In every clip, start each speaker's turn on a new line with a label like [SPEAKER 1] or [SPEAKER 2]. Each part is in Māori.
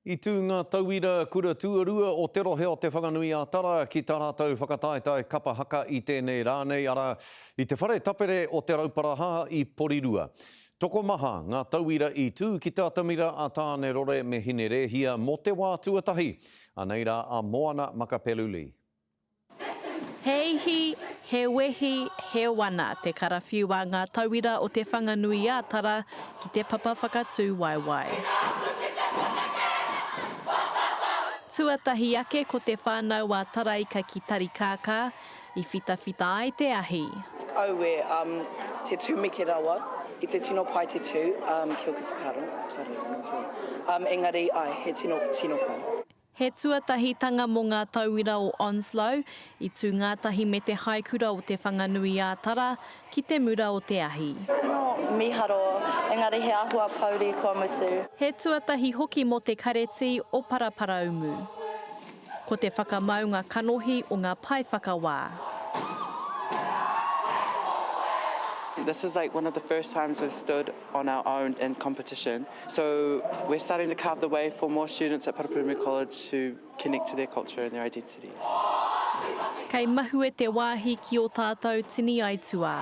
[SPEAKER 1] I tū ngā tauira kura tuarua o te rohe o Te Whanganui-a-Tara ki tā rātou whakataetae kapa haka i tēnei rā nei, arā, i te whare tapere o Te Rauparaha i Porirua. Tokomaha ngā tauira i tū ki te atamira a Tāne-rore me Hine-rēhia mō te wā tuatahi, anei rā a Moana Makapeluli.
[SPEAKER 2] He ihi, he wehi, he wana te karawhiu a ngā tauira o Te Whanganui-ā-Tara ki te papa whakatū waewae. Tuatahi ake ko Te Whānau-ā-Taraika ki Tarikākā, i whitawhita ai te ahi. Aue,
[SPEAKER 3] um, te tumeke rawa, i te tino pai te tū, um, ki oku whakaaro, kare, kano kē. Um, engari, ae, he tino, tino pai. He
[SPEAKER 2] tuatahitanga mō ngā tauira o Onslow, i tū ngātahi me te haikura o Te Whanganui-ā-Tara ki te mura o te ahi. Tino miharo,
[SPEAKER 4] engari he ahua pouri kua mutu. He tuatahi
[SPEAKER 2] hoki mō te karetī o Paraparaumu. Ko te whakamaunga kanohi o ngā paewhakawā.
[SPEAKER 5] This is like one of the first times we've stood on our own in competition. So we're starting to carve the way for more students at Paraparaumu College to connect to their culture and their identity.
[SPEAKER 2] Kei mahue te wāhi ki ō tātou tini aituā.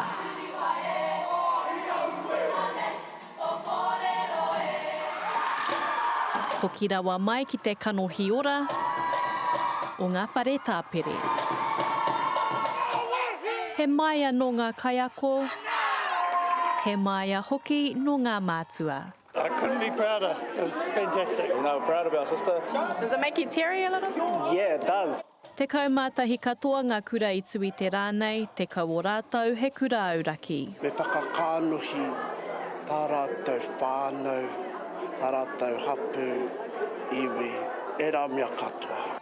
[SPEAKER 2] Hoki rawa mai ki te kanohi ora o ngā whare tāpere. He māia nō ngā kaiako, He māia hoki nō ngā mātua. I couldn't be
[SPEAKER 6] prouder, it was fantastic. No, we're proud of our
[SPEAKER 7] sister. Does it make you
[SPEAKER 4] teary a little? Yeah, it does.
[SPEAKER 7] Tekau mā tahi
[SPEAKER 2] katoa ngā kura i tu i te rā nei, tekau o rātou he kura auraki. Me whakakānuhi
[SPEAKER 8] tā rātou whānau, tā rātou hapū, iwi, ērā mea katoa.